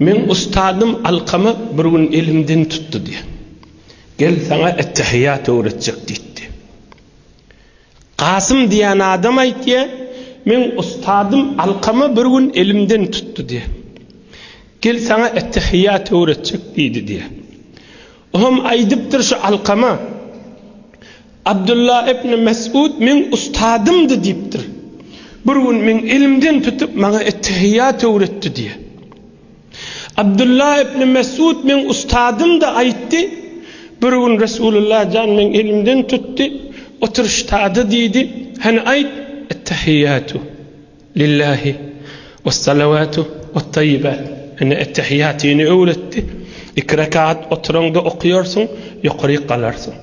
Meň ustadym alkama bir gün elimden tutdy-da, Gel, saňa ettehiýat öwretjek diýdi. Kasym diýen adam aýtýar, Meň ustadym alkama bir gün elimden tutdy-da, Gel, saňa ettehiýat öwretjek diýdi diýýär. O hem aýdypdyr şu Alkama, Abdulla ibn Mes'ud meň ustadymdy diýipdir. Bir gün meň elimden tutup maňa ettehiýýat öwretdi diýýär. Abdulla ibn Mes'ud meň ustadymdy aýtdy, bir gün Resulullah jan meň elimden tutdy, otur ştada diýdi, hany aýt, ettehiýýatu. Lillahi wes-salawatu wat-taýyibat, ine ettehiýatyny öwretdi, iki rekat oturaňda okaýarsyň, ýokaryk galarsyň.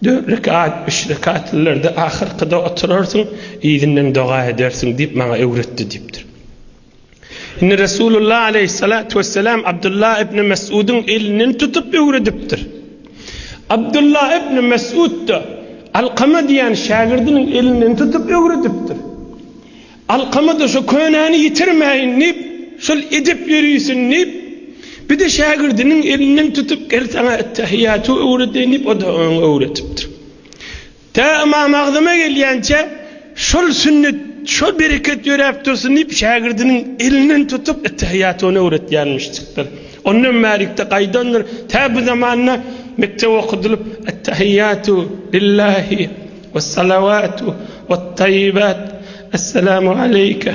Dört rekat, üç rekatlylarda ahyrkyda oturarsyň, yzyndan doga edersiň diýip maňa öwretdi diýipdir. Indi Resulullah aleýhissalatu wessalam Abdullah ibn Mes'udyň elinden tutup öwredipdir. Abdullah ibn Mesud-da Alkama diýen şägirdiniň elinden tutup öwredipdir. Alkama-da şo könäni ýitirmäýin diýip, şol edep ýörisin diýip, bir-de şägirdiniň elinden tutup, Gel saňa et-tähiýýaty öwredeýin diýip, o-da oňa öwredipdir. Tä Ymam Agzama gelýänçä şol sünnet, şol bereket ýöräp dursun diýip, şägirdiniň elinden tutup, ettehiýaty ona öwretýänmişjikdir. Ondan bärikde gaýdandyr, tä bu zamanda mekdep okudylyp, ettehiýatu lillahi wessalawatu wettaýibat, Esselamu aleýke,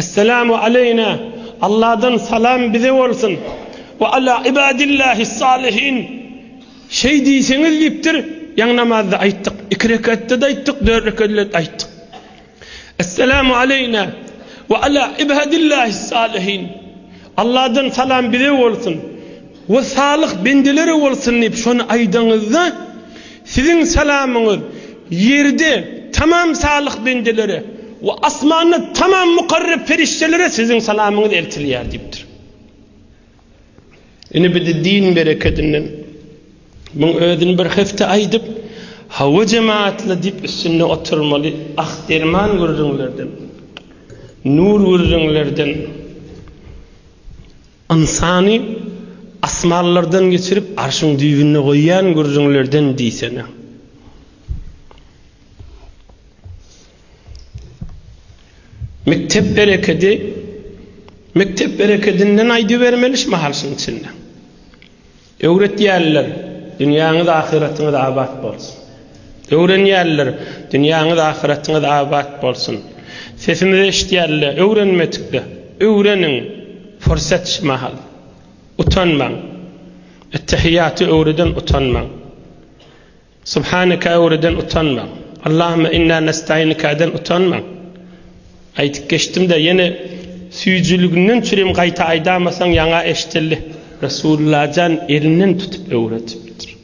Esselamu aleýna, Alladan salam bize bolsun, we ala ibadillahis-salihin, şeý diýseňiz diýipdir, ýaňy namazda aýtdyk, iki rekatda-da aýtdyk, dört rekatda-da aýtdyk. Esselamu aleýna, we ala ibadillahis-salihin, Alladan salam bize bolsun. We salyh bendeleri bolsun diýip şony aýdaňyzda, siziň salamyňyz ýerde tamam salyh bendelere we asmanda tamam mukarrep perişdelere siziň salamyňyz eltilýär diýipdir. Ine bizde din berekedinden muň özüni bir hepde aýdyp, hawa jematly diýip üstünde oturmaly, ah derman gürrüňlerden, nur gürrüňlerden, Ynsany asmanlardan geçirip arşyň düýbünde goýýan gürrüňlerden diýsene. Mekdep berekedi, mekdep berekedinden aýdybermeli şu mahal şunuň içinde. Öwretýärler, Dünýäňiz ahyratyňyz abat bolsun! Öwrenýärler, Dünýäňiz ahyratyňyz abat bolsun! Sesimizi eşitýärler, öwrenmedikler, öwreniň, pursat şu mahal! Utanmaň! Ettehiýaty öwreden utanmaň! Subhaneka'den utanmaň. Allahümme inna nestainika'den utanmaň. Aýdyp geçdim-de, ýene süýjüliginden çürim gaýta aýdamasaň ýaňa eşdildi. Resullajan elinden tutup öwredipdir.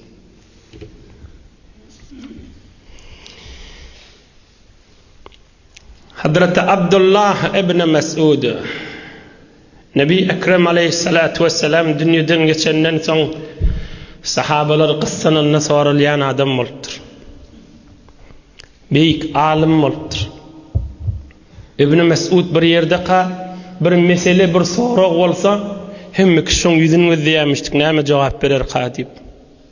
Hazreti Abdullah ibn Mes'ud, Nebi Ekrem aleýhissalatu wessalam dünýeden geçenden soň, sahabalar gyssananda soralýan adam bolupdyr. Beýik alym bolupdyr. Ibn Mes'ud bir ýerdeka bir mesele, bir sorag bolsa, hemme kişi şoň ýüzüni gözleýärmişdik, näme jogap bererka diýip.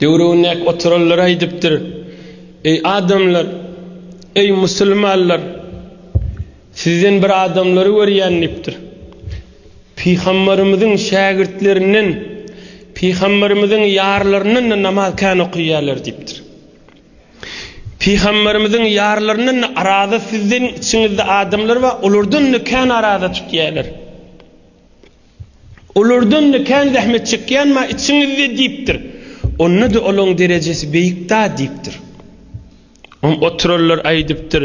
Döwründäki oturanlar aýdypdyr, Eý, adamlar! Eý, musulmanlar! Sizden bir adamlary görýän diýipdir. Pygamberimiziň şägirtlerinden, pygamberimiziň ýarlaryndan-da namaz kän okaýarlar diýipdir. Pygamberimiziň ýarlaryndan-da araza sizden içiňizde adamlar bar, olardan-da kän araza tutýarlar. Olardan-da kän zähmet çekýän-ma içiňizde diýipdir. Onda-da olaň derejesi beýik-da diýipdir. Oňa oturanlar aýdypdyr,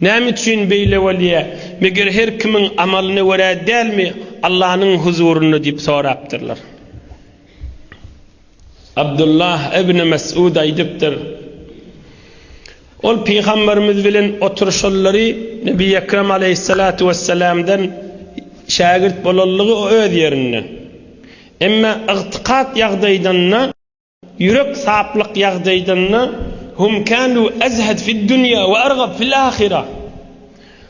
Näme üçin beýle bolýa? Meger her kimiň amalyna görä dälmi Allanyň huzurynda diýip sorapdyrlar. Abdullah ibn Mes'ud aýdypdyr, Ol Pygamberimiz bilen oturyşanlary Nebi Ekrem aleýhissalatu wessalamdan şägirt bolanlygy öz ýerinde. Emma ygtykat ýagdaýdanda, ýürek saplyk ýagdaýdanda, Hum kanu azhad fid dunýa we argab fil ahira.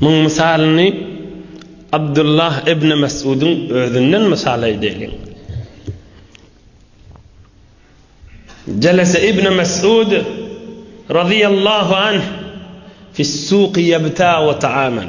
Muň mysalyny Abdullah ibn Mes'udyň özünden mysal edeliň. Jelese ibn Mes'ud razyýallahu anh fis-suqi ýebta we ta'aman.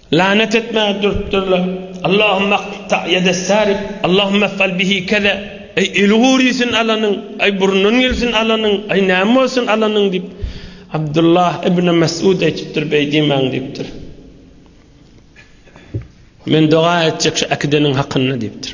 Lanet etmäge durupdyrlar. Allahumma qta ýedessarif, Allahumma if'al bihi keza, Aý, eli gurysyn alanyň, aý, burnundan gelsin alanyň, aý, näme bolsun alanyň diýip, Abdullah ibn Mes'ud aýdypdyr, beý diýmäň diýipdir. Men doga etjek şu äkideniň hakynda diýipdir.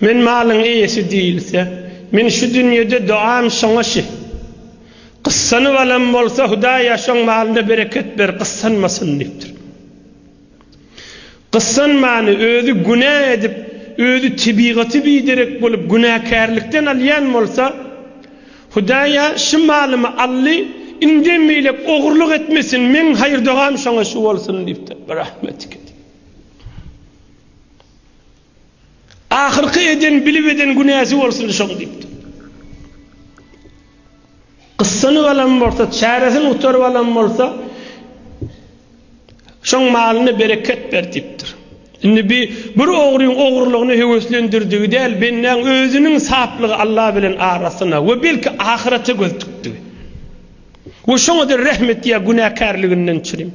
Men malyň eýesi diýilse, men şu dünýede doam şoňa şi. Gyssanyp alan bolsa, Hudaýa şoň malyna bereket ber, gyssanmasyn diýipdir. Gyssanmany, özi günä edip, özi tebigaty biderek bolup günäkärlikden alýan bolsa, Hudaýa şi malymy aldy, indem beýläk ogurlyk etmesin, meň haýyr-dogam şoňa şi bolsun diýipdir. Birahmetike diýip. Ahyrky eden bilip eden günäsi bolsun şoň diýipdir. Gyssanyp alan bolsa, çäresini gutaryp alan bolsa, şoň malyna bereket ber diýipdir. Indi bi bir ogryň ogurlygyny höweslendirdigi däl, bendäň özüniň saplygy Alla bilen arasyna we belki ahyrete göz dikdigi. We şoňa-da rehm et ýa günäkärliginden çürim.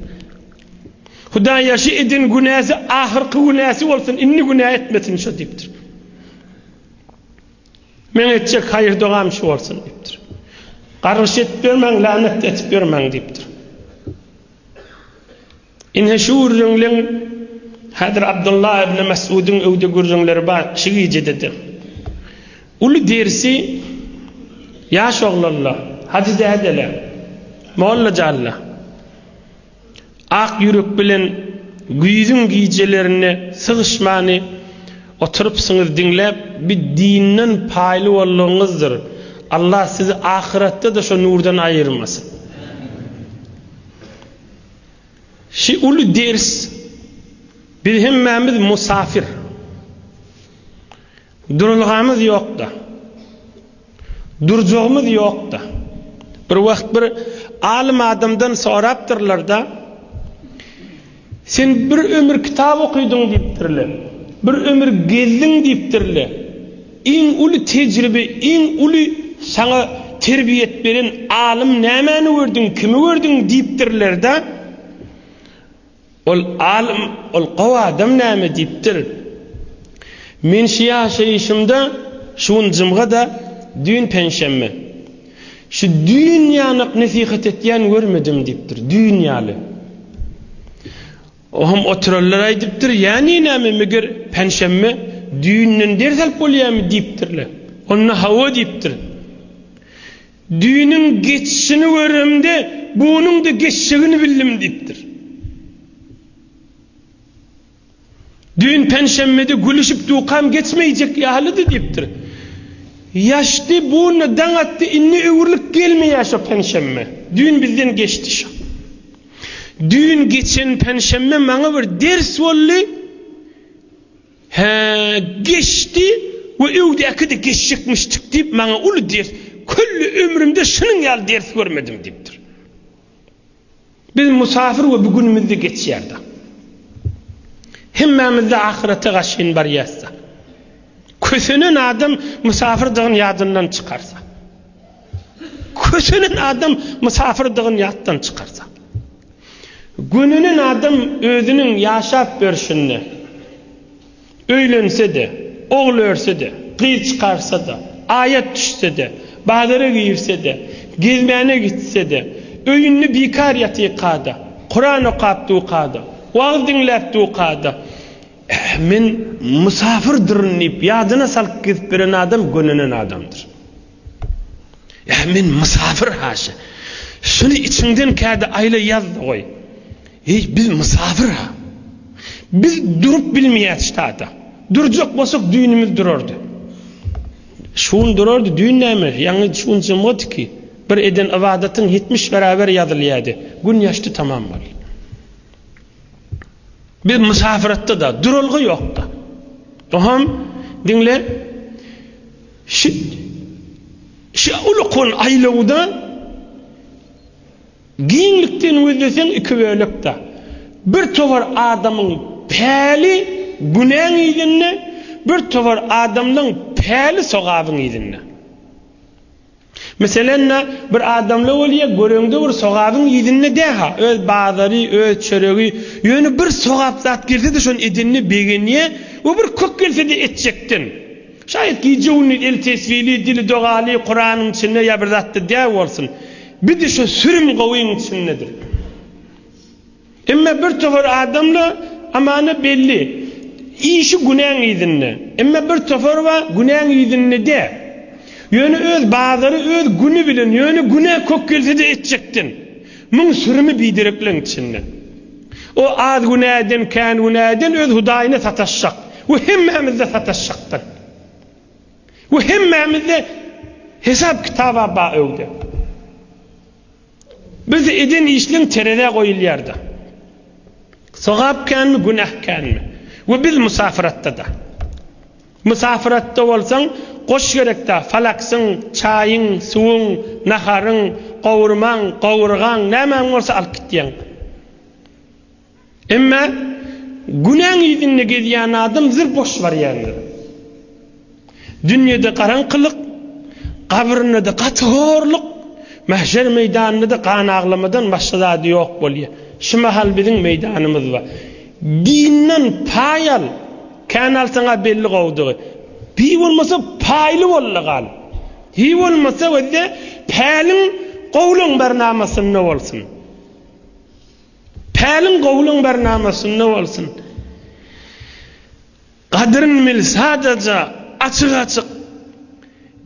Hudaýa şu eden günäsi ahyrky günäsi bolsun, indi günä etmesin şu diýipdir. Meň etjek haýyr dogam şu bolsun diýipdir. Gargyş edip ýörmäň, lanet edip ýörmäň diýipdir. Ine şu gürrüňleň häzir Abdulla ibn Mes'udyň öwde gürrüňleri bar, şu gijede-de. Uly dersi ýaş oglanlar, hajy dädeler, mollajanlar. Ak ýürek bilen güýzüň gijelerinde sygyşmany oturypsyňyz diňläp bi dinden paýly boldugyňyzdyr Allah sizi ahyratda-da şo nurdan aýyrmasyn. Şi uly ders biz hemmämiz musafir. Durulgamyz ýokda. Durjagymyz ýokda. Bir wagt bir alym adamdan sorapdyrlarda, Sen bir ömür kitap okydyň diýipdirle. Bir ömür gezdiň diýipdirle. Iň uly tejribe, iň uly saňa terbiýet beren alym nämäni gördüň, kimi gördüň diýipdirlerde, Ol alym, ol gowy adam näme diýipdir? Men şu ýaşaýyşymda, şu gün jumga-da, düýn penşenbe. Şu düýn ýanak nesihat etýän görmedim diýipdir, düýn ýaly. Oňam oturanlar aýdypdyr, Ýäni näme, meger penşenbe düýnden ders alyp bolýarmy diýipdirler. Onda hawa diýipdir. Düýnüň geçişini göremde, bunuň-da geçjegini bildim diýipdir. Düýn penşenbedi gülüşip dukam geçmeýjek ýalydy diýipdir. Ýaşdy, bunda daň atdy, indi öwrülip gelmeýär şo penşenbe. Düýn bizden geçdi şo. Düýn geçen penşenbe maňa bir ders boldy. Hä, geçdi we öwdäki-de geçjekmişdik diýip, maňa uly ders, külli ömrümde şunuň ýaly ders görmedim diýipdir. Biz musapyr we bu günümiz-de geçýär-de. Hemmämiz-de ahyrete garşyn barýas-da. Kösenen adam musapyrdygyny ýadyndan çykarsa. Kösenen adam mysafyrdygyny ýatdan çykarsa. Gönenen adam özüniň ýaşap ýörşünde, öýlense-de, ogul örse-de, gyz çykarsa-da, aýat düşse-de, bazara girse-de, gezmäne gitse-de, öýünde bikar ýatyka-da, Kuran okap duka-da, wagyz diňläp duka-da, Men mysafirdyryn diýip ýadyna salyp gezip ýören adam gönenen adamdyr. Ýa men mysafir haşa. Şuny içiňden kädi aýla ýaz-da goý. Eý, biz mysafir-a. Biz durup bilmeýäs ştata. Durjak bolsak düýnümiz durardy. Şun durardy, düýn näme, ýaňy şun jymgyt ki, bir eden ybadatyň ýetmiş bäräber ýazylýady. Gün ýaşdy tamam boldy. Biz mysafiratda-da, duralga ýok-da. Oham, diňle. Şu ulkan aýlawda giňlikden gözleseň iki bölek-de, bir towar adamyň päli günäň yzynda, bir towar adamlaň päli sogabyň yzynda. Meselem, bir adamla bolýa, göreňde bir sogabyň yzynda dä-ha, öz bazary, öz çöregi, ýöne bir sogap zat gelse-de şony edende begenýä we bir kök gelse-de etjekden. Şaýat gije-gündiz eli tesbili, dili dogaly, Kuranyň içinde ýa bir zatda däp bolsun. Bir-de şu sürüm gowyň içindedir. Emma bir topar adamla amana belli. Işi günäň yzynda. Emma bir topar bar, günäň yzynda däp. Ýöne öz bazary, öz güni bilen, ýöne günä kök gelse-de etjekden. Muň sürümi biderekleň içinde. O az günäden, kän günäden öz Hudaýyna sataşjak we hemmämizde sataşjakdyr. We hemmämizde hesap-kitaba ba öwde. Biz eden işleň terezä goýulýar-da. Sogap känmi, günäh känmi? We biz musafyratda-da. Mysafiratda bolsaň, goş gerekdä, falaksyň, çaýyň, suwuň, naharyň, gowurmaň, gowurgaň, nämäň bolsa alyp gitýäň. Emma günäň yzynda gezýän adam zir boş barýandyr. Dünýede garaňkylyk, gabrynda-da gaty horluk, mähşer meýdanynda-da gan aglamadan başga zady ýok bolýar. Şu mahal biziň meýdanymyz bar. Dinden paý al, kän alsaň-a belli gowudygy. Hiý bolmasa paýly bol-da gal. Hiý bolmasa özde päliň gowlygyň bernamasynda bolsun. Päliň gowlygyň bernamasynda bolsun. Gadryny bil sadaja açyk açyk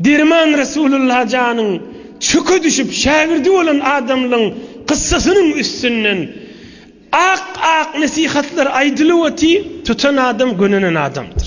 derman Resulullah janyň çöke düşüp şägirdi bolan adamlyň kyssasynyň üstünden ak ak nesihatlar aýdylyp oty tutan adam gönenen adamdyr.